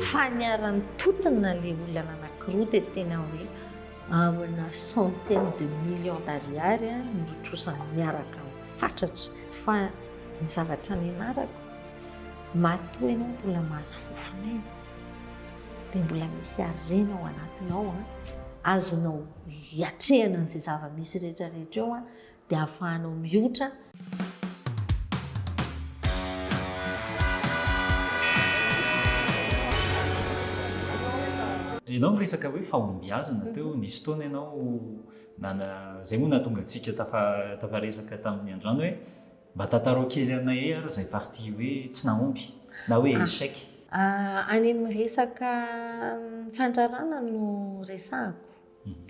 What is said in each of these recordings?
Fa niara-nitontona le olana anakiroa de tena hoe amina centaine de millions d'ariary nirotrosany miaraka amin'ny fatratra. Fa ny zavatra nianarako, matoa ianao mbola mahazo fofon'aina dia mbola misy harena ao anatinao azonao hiatrehana an'izay zava-misy rehetra rehetra eo dia ahafahanao miotra. Ianao miresaka hoe fahombiazana teo, nisy fotoana ianao nana zay moa nahatonga antsika tafa- tafaresaka tamin'ny andrano hoe mba tantarao kely anay ary zay partie hoe tsy nahomby na hoe échec. Any amin'ny resaka fandrarana no resahako.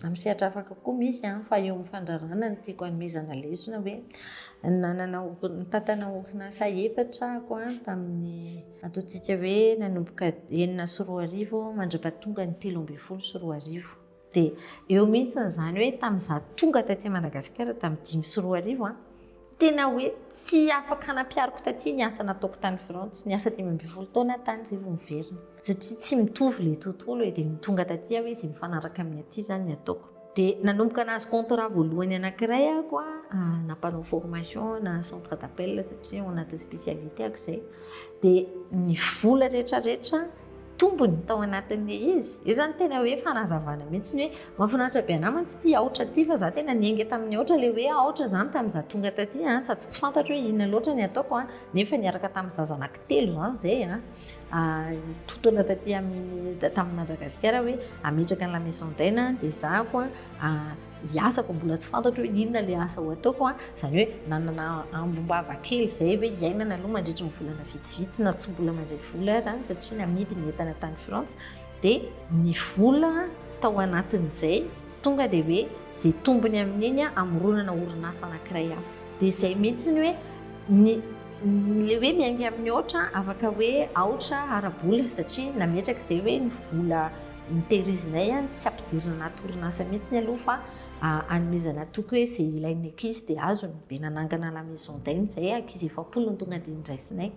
Amin'ny sehatra hafa kokoa, misy an, fa eo amin'ny fandraràna no tiako hanomezana lesona hoe, nanana ori- nitantana orinasa efatra aho an, tamin'ny ataontsika hoe nanomboka enina sy roa arivo mandra-pahatonga ny telo ambin'ny folo sy roa arivo. Dia eo mihitsy izany hoe tamin'izaho tonga taty Madagasikara tamin'ny dimy sy roa arivo an, Tena hoe tsy afaka hanampihariko taty ny asa nataoko tany Frantsa. Ny asa dimy ambin'ny folo taona aho tany izay vao niverina. Satria tsy mitovy ilay tontolo e, dia ny tonga taty aho izy mifanaraka amin'ny aty izany ny ataoko. Dia nanomboka nahazo contrat voalohany anankiray aho koa ah, na mpanao formation na centre d'appel satria ao anatin'ny spécialité-ako izay. Dia ny vola rehetra rehetra tombony tao anatin'ilay izy. Io zany tena hoe fanazavana mihitsy ny hoe mahafinaritra be anah mantsy ity aotra ity fa za tena niainga tamin'ny aotra ilay hoe aotra zany tamin'ny za tonga taty an, sady tsy fantatro hoe inona loatra ny ataoko an, nefa niaraka tamin'ny za zanak'i telo zany zay an, totoina taty amin'ny tamin'i Madagasikara hoe ametraka ny la maison d'aine an, dia zahako an, hiasa vao mbola tsy fantatro hoe inona ilay asa ho ataoko an, izany hoe nanana ambom-bava kely izay hoe hiainana aloha mandritry ny volana vitsivitsy na tsy mbola mandray vola aza an, satria namidy ny entana tany Frantsa dia ny vola tao anatin'izay tonga dia hoe izay tombony amin'iny an amoronana orinasa anankiray hafa dia izay mihitsy ny hoe ny ilay hoe miainga amin'ny aotra afaka hoe aotra ara-bola satria nametraka izay hoe ny vola Ny tehirizinay an, tsy ampidirina anaty orinasa mihitsy ny aloha fa anomezana toky hoe izay ilain'ny ankizy dia azony. Dia nanangana la maison d'aide izay, ankizy efapolo no tonga dia niraisinay.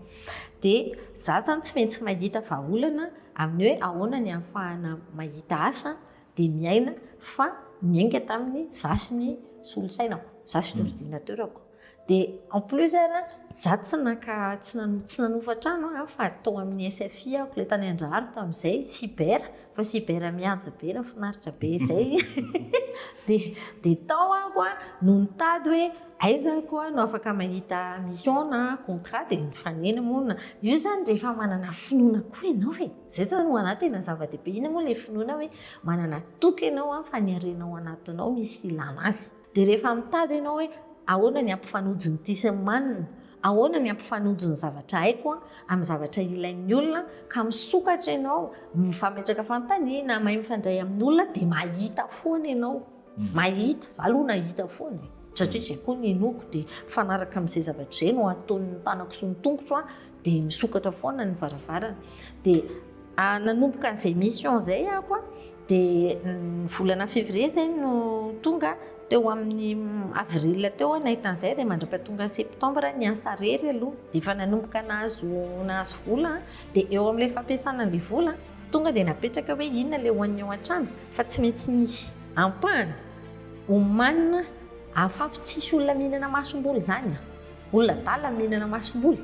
Dia za zany tsy maintsy mahita vahaolana amin'ny hoe ahoana ny ahafahana mahita asa dia miaina fa niainga tamin'ny za sy ny solosainako, za sy ny ordinateur-ko. Dia en plus ary an, za tsy naka tsy nano tsy nanofa trano an, fa tao amin'ny SFI aho, ilay tany Andraharo tamin'izay, cyber, fa cyber mihaja be raha finaritra be izay, dia dia tao aho an no nitady hoe aiza ako aho no afaka mahita mission na contrat dia nifanena moa na, io izany rehefa manana finoana koa ianao e, izay izany ho an'ahy tena zava-dehibe, inona moa ilay finoana hoe manana toky ianao an fa ny harenao anatinao misy ilana azy. Dia rehefa mitady ianao hoe ahoana ny hampifanojo ny ty sy ny manina, ahoana ny hampifanojo ny zavatra haiko an, amin'ny zavatra ilain'ny olona an, ka misokatra ianao, mifametraka fanontaniana, mahay mifandray amin'ny olona dia mahita foana ianao. Mahita, za aloha nahita foana e, satria zay koa ny inoako dia mifanaraka amin'izay zavatra izay no ataon'ny tanako sy ny tongotro an, dia misokatra foana ny varavarana dia ah, nanomboka an'izay mission izay ako a dia mm, volana février izay no tonga teo amin'ny avril teo a nahita an'izay dia mandra-pahatonga septembre ny asa rery aloha dia efa nanomboka nahazo nahazo vola dia eo amin'ilay fampiasana an'ilay vola tonga dia napetraka hoe inona ilay hoan'ny ao an-trano fa tsy maintsy misy ampahany omanina afafy tsisy olona mihinana masomboly izany a Olona adala ny mihinana masomboly.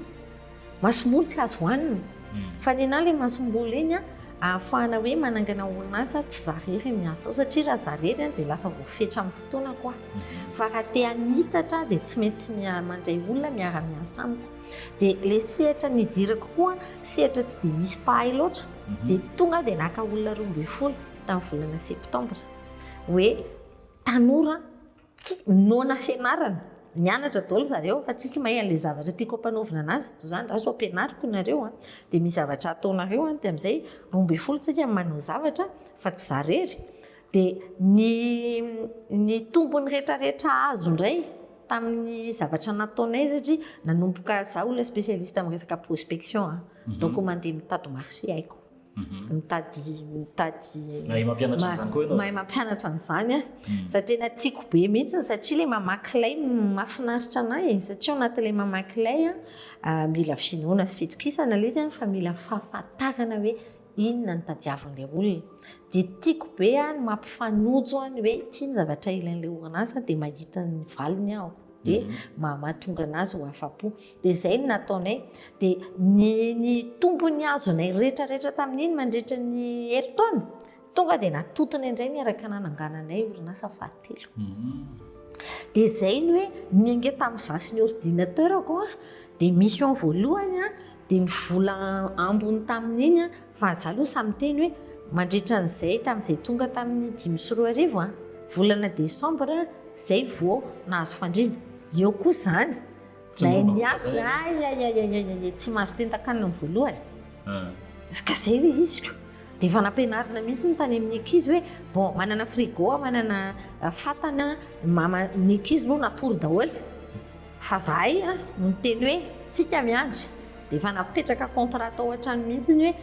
Masomboly tsy azo hohanina. Hmm. Fa ny anà ilay masomboly iny an, ahafahana hoe manangana orinasa tsy za rery miasa ao satria raha za rery an dia lasa voafetra amin'ny fotoana koa. Hmm. Fa raha te hanitatra dia tsy maintsy mandray olona miara-miasa amiko. Dia ilay sehatra nidirako koa sehatra tsy dia misy mpahay loatra. Hmm. Dia tonga dia naka olona roa ambin'ny folo tamin'ny volana septambra. Hoe tanora Tsy noana fianarana. Nianatra daholo zareo fa tsisy mahay an'ilay zavatra tiako ampanaovina anazy. Toy izany raha sao ampianariko nareo an, dia misy zavatra ataonareo an, dia amin'izay roa ambin'ny folo tsika no manao zavatra fa tsy za rery. Dia ny ny tombony retraretra azo indray tamin'ny zavatra nataonay satria nanomboka za olona spécialiste amin'ny resaka prospection an, donc mandeha mitady marché haiko. Mhm. mitady mitady mahay mampianatra an'izany koa ianao mahay mampianatra an'izany a hmm. satria tena tiako be mihitsy satria ilay mamaky lay mahafinaritra anay e. satria ao anatin'ilay mamaky lay a ah, mila finoana sy fitokisana ilay izy fa mila fahafantarana hoe inona ny tadiavin'ilay olona dia tiako be a ny mampifanojo a ny hoe tia ny zavatra ilain'ilay orinasa dia mahita ny valiny aho dia mhm. mahamatonga anazy ho afa-po Dia izay no nataonay. Dia ny, ny tombony azonay rehetra rehetra tamin'iny mandritra ny herintaona, tonga dia natotona indray niaraka nanangananay orinasa fahatelo. Dia izay ny hoe, ny ange tamin'ny za sy ny ordinateur-ko an, dia mission voalohany an, dia ny vola ambiny tamin'iny an, fa za aloha sahy miteny hoe, mandritra an'izay, tamin'izay tonga tamin'ny dimy sy roa arivo an, volana desambra izay vao nahazo fandriana. Eo koa izany, Nahay niafy za, ayayayayay, tsy mahazo tentan-kanina ny voalohany. Ah. Ka zay le iziko. Dia efa nampianarina mihitsy ny tany amin'ny ankizy hoe bon, manana frigo, manana ah, fatana, mama, ny ankizy moa natory daholo. Fa zahay ah, no niteny hoe tsika miandry. Dia efa napetraka contrat tao an-trano mihitsy ny hoe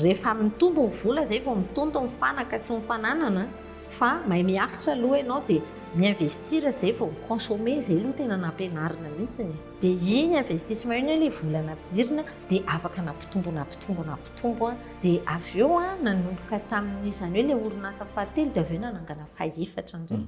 rehefa mitombo ny vola, zay vao mitonto ny fanaka sy ny fananana. Fa mahay miaritra aloha ianao dia mi-investir izay vao mi-consommer, izay aloha tena nampianarina mihitsy e. Dia iny investissement iny hoe ilay vola nampidirina dia afaka nampitombo nampitombo nampitombo an! Dia avy eo an, nanomboka tamin'izany hoe ilay orinasa fahatelo dia avy eo nanangana fahefatra indray.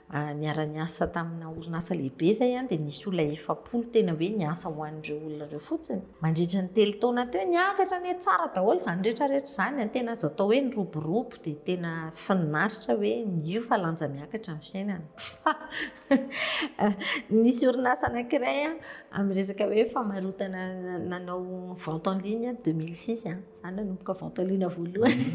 niara-niasa tamina orinasa lehibe izay an, dia nisy olona efapolo tena hoe niasa ho an'ireo olona ireo fotsiny. Mandritra ny telo taona teo, niakatra anie tsara daholo izany rehetra rehetra izany an, tena azo atao hoe niroborobo, dia tena finaritra hoe mio fa lanja miakatra ny fiainana. Fa nisy orinasa anankiray an, amin'ny resaka hoe famarotana nanao vente en ligne an, deux mille six an, Za nanomboka vento alina voalohany.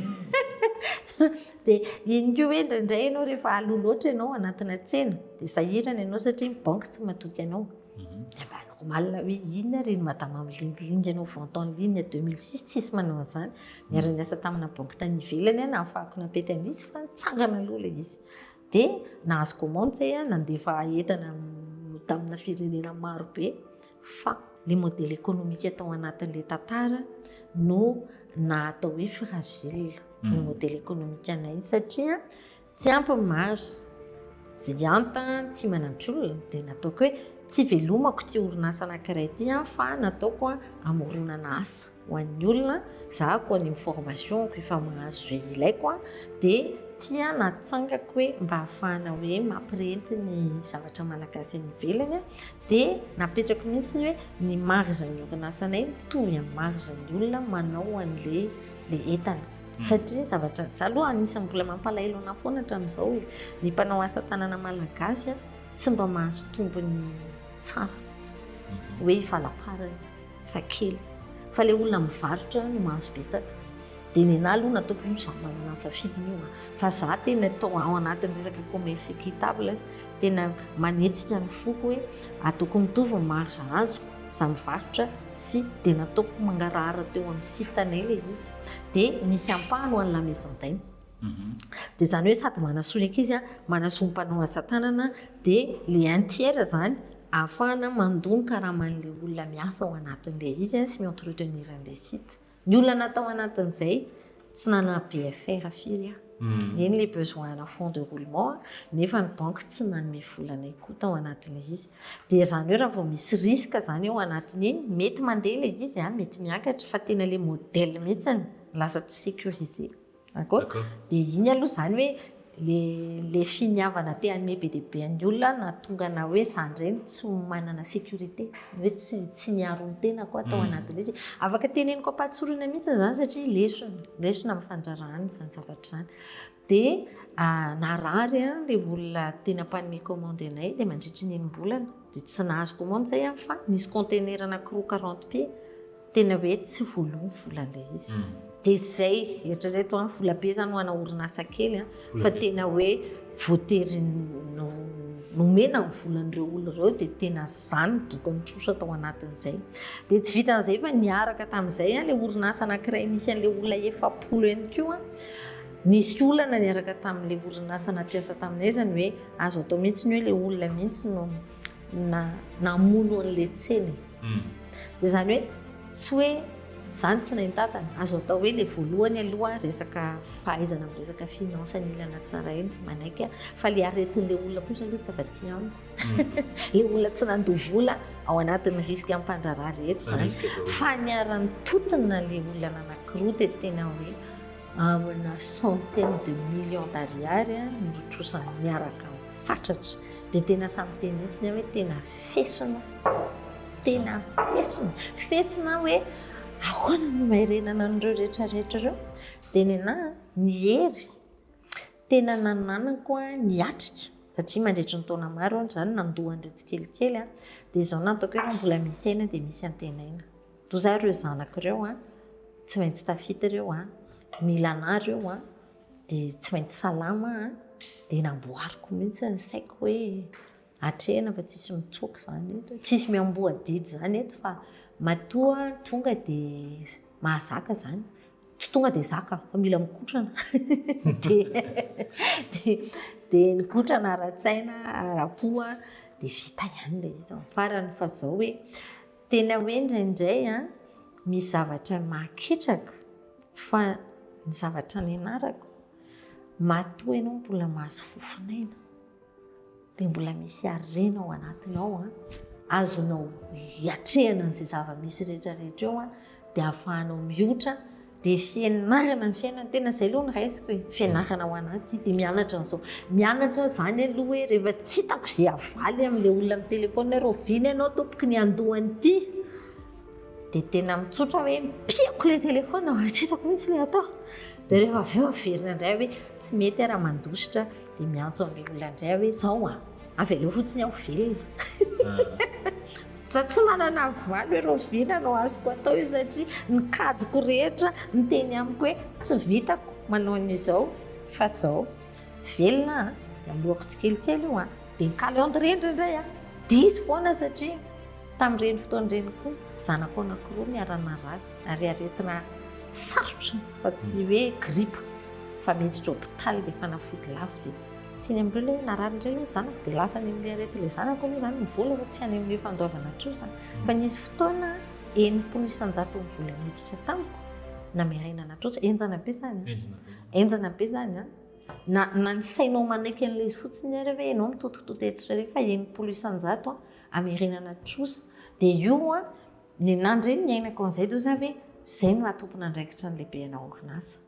Dia iny koa hoe indraindray ianao rehefa aloha loatra ianao anatina tsena dia sahirana ianao satria ny banky tsy matoky anao. Mhm. Dia va normal hoe inona ary ny madama milingilingy ianao vente en ligne 2006 tsisy manao an'izany. Niara-niasa tamina banky tany ivelany aho nahafahako nampety an'izy fa nitsangana aloha ilay izy. Dia nahazo commande zay a, nandefa entana tamina firenena maro be fa le modèle économique tao anatin'le tantara no nahatao hoe fragile ny hmm. modèle économique anay satria tsy ampy ny marge zay anta tsy manampy olona dia nataoko hoe tsy velomako ty orinasa anankiray ty fa nataoko amoronana asa Ho an'ny olona, zahako any amin'ny formation-ko efa mahazo izay ilaiko aho, dia tia natsangako hoe mba hahafahana hoe mampirenty ny zavatra malagasy any ivelany aho, dia napetrako mihitsy ny hoe ny marge-n'ny orinasanay mitovy amin'ny marge-n'ny olona manao an'ilay ilay entana. Satria ny zavatra, za aloha anisan'ny mbola mampalahelo anahy foana hatramin'izao hoe ny mpanao asa tanana malagasy tsy mba mahazo tombony tsara, hoe efa laparany. fa kely fa le olona mivarotra no mahazo betsaka dia nenahy aloha nataoko io zany manana safidy io ah. fa za tena atao ao anatin'ny resaka commerce équitable tena manetsika ny foko hoe ataoko mitovy ny marge azoko za mivarotra sy dia nataoko mangarahara teo amin'ny site anay le izy dia misy ampahany ho an'ny la maison d'aine mhm. dia zany hoe sady manasoa ny ankizy a manasoa ny mpanao asa tanana dia le un tiers zany Ahafahana mandoa ny karaman'ilay olona miasa ao anatin'ilay izy sy mi-entretenir an'ilay site. Ny olona natao anatin'izay, tsy nanana BFR firy aho. Eny ilay besoin ana fonds de roulement nefa ny banky tsy nanome vola anay koa tao anatin'ilay izy. Dia izany hoe raha vao misy risque izany ao anatin'iny, mety mandeha ilay izy, mety miakatra fa tena ilay modèle mihitsy lasa tsy sécurisé. D'accord? Dia iny aloha izany hoe le le finiavana te hanome be dia be an'ny olona no nahatonga anah hoe za indray no tsy manana sécurité, ny hoe tsy tsy niaro ny tenako aho tao anatin'ilay izy. Afaka teneniko am-pahatsorana mihitsy izany satria lesona, lesona amin'ny fandrarahana izany zavatra izany. Dia narary ilay olona tena mpanome commande anay dia mandritry ny enim-bolana dia tsy nahazo commande izay aho fa nisy container anankiroa quarante pieds. Tena hoe tsy voaloa ny vola ilay izy. Dia izay, eritrereto an, vola be izany ho ana orinasa kely an, fa tena hoe voatery nomena ny volan'ireo olona ireo dia tena izany doka nitrosa tao anatin'izay. Dia tsy vitan'izay fa niaraka tamin'izay an, ilay orinasa anankiray nisy an'ilay olona efapolo ihany koa nisy olana niaraka tamin'ilay orinasa nampiasa taminay izany hoe azo atao mihitsy ny hoe ilay olona mihitsy no na namono an'ilay tsena e. Dia izany hoe tsy hoe izany tsy nahintatana. Azo atao hoe ilay voalohany aloha resaka fahaizana amin'ny resaka finance ny olona natsaraina, manaiky aho. Fa ilay aretin'ilay olona kosa aloha tsy afa-tsy amiko. Ilay olona tsy nandoa vola ao anatin'ny risque am-pandraharaha rehetra izany. Fa niara-nitontona ilay olona nanankiroa dia tena hoe amina centaine de millions d'ariary no rotrosany miaraka amin'ny fatratra dia tena samy miteny mihitsy ny ahy hoe tena fesona tena fesona fesona hoe ahoana no maerenana an'ireo rehetra rehetra ireo dia ny ahy ny hery tena nananako a ny atrika satria mandritry ny taona maro aho izany nandoa an'ireo tsikelikely aho dia izao nataoko hoe raha mbola misy aina dia misy antenaina Toa zah ireo zanako ireo an, tsy maintsy tafita ireo an, mila anah ireo an, dia tsy maintsy salama an, dia namboariko mihitsy ny saiko hoe atrehina fa tsisy mitsoaka izany eto e, tsisy miamboho adidy izany eto fa matoa tonga dia mahazaka izany, tsy tonga dia zaka fa mila mikotrana dia nikotrana ara-tsaina, ara-po an, dia vita ihany ilay izy, fa raha ny fa zao hoe. Tena hoe indraindray an, misy zavatra mahaketraka fa ny zavatra nianarako matoa ianao mbola mahazo fofon'aina dia mbola misy harena ao anatinao an, azonao iatrehana an'izay zava-misy rehetra rehetra eo an, dia ahafahanao miotra dia fianarana ny fiainana tena izay aloha ny raisiko e fianarana ao anaty dia mianatra an'izao mianatra izany aloha hoe rehefa tsy hitako izay havaly amin'ilay olona amin'ny telefaonina hoe rahoviana ianao tompoko ny andohan'ity dia tena mitsotra hoe mipihako ilay telefaonina mba tsy hitako mihitsy ilay atao dia rehefa avy eo averina indray hoe tsy mety aho raha mandositra dia miantso an'ilay olona indray aho hoe izao a Avelao fotsiny aho velona. Za tsy manana valo hoe Rovina no azoko atao io satria ny kajiko rehetra miteny amiko hoe tsy vitako manao an'izao fa zao. Velona a, dia aloako tsikelikely io a, dia ny calendrier indray a, diso foana satria tamin'ireny fotoana ireny koa zanako anankiroa niara-naratsy ary aretina sarotra fa tsy hoe gripa fa miditra hopitaly dia fanafody lafo dia Tsy ny amin'ireo ilay hoe narary indray aloha ny zanako dia lasa any amin'ilay arety ilay zanako aloha izany ny vola fa tsy any amin'ilay fandoavana atrozona izany. Fa nisy fotoana enimpolo isan-jaton'ny vola niditra tamiko nameraina natrosa. Henjana be izany. Henjana be izany an. Na, na ny sainao manaiky an'ilay izy fotsiny ary hoe ianao mitotototo etsy sy eroa fa enimpolo isan-jato hamerena natrosa. Dia io an, ny nandre ny niainako an'izay dia hoe za ve izay no maha tompon'andraikitra ny lehibe ana orinasa.